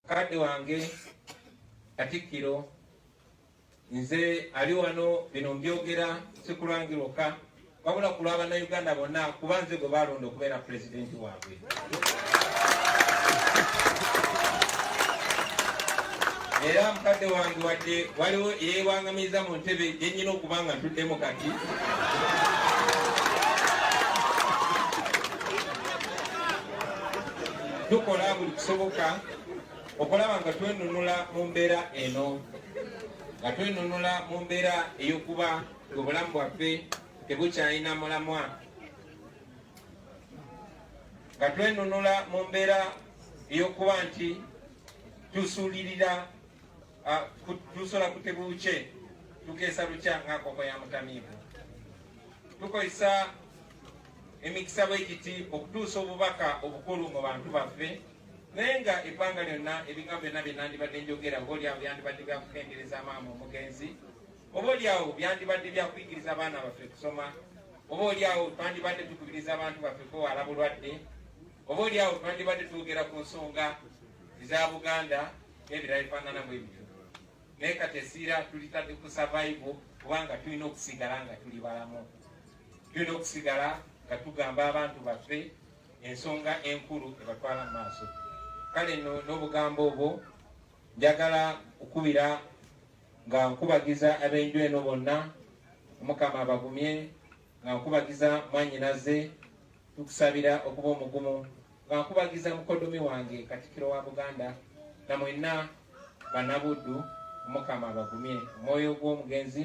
Kadde wange Katikkiro nze ali wano bino mbyogera sikulwangi lwokka wabula ku lwa bannayuganda bonna kuba nze gwe baalonda okubeera pulezidenti waabwe era mukadde wange wadde waliwo eyewangamiza mu ntebe gyenyina okuba nga ntuddemu kati tukola buli kisoboka okulaba nga twenunula mu mbeera eno nga twenunula mu mbeera ey'okuba ng'obulamu bwaffe tebukyalina mulamwa nga twenunula mu mbeera ey'okuba nti tusuulirira tusola kutebuukye tukeesa lukya ng'akoko ya mutamiivu tukozesa emikisa bwe giti okutuusa obubaka obukulu mu bantu baffe naye nga ebbanga lyonna ebigambo byonna bye nandibadde njogera oba olyawo byandibadde bya kukendereza maama omugenzi oba olyawo byandibadde bya kuyigiriza abaana baffe kusoma oba olyawo twandibadde tukubiriza abantu baffe kwewala bulwadde oba olyawo twandibadde twogera ku nsonga eza buganda n'ebirala bifaanana bwe bityo naye kati esiira tulitadde ku survival kubanga tulina okusigala nga tuli balamu Tulina okusigala nga tugamba abantu baffe ensonga enkulu ebatwala mu maaso. Kale no n'obugambo obwo njagala okukubira nga nkubagiza ab'enju eno bonna omukama abagumye nga nkubagiza mwanyinaze tukusabira okuba omugumu nga nkubagiza mukodomi wange katikiro wa buganda na mwenna banabuddu omukama abagumye omwoyo gw'omugenzi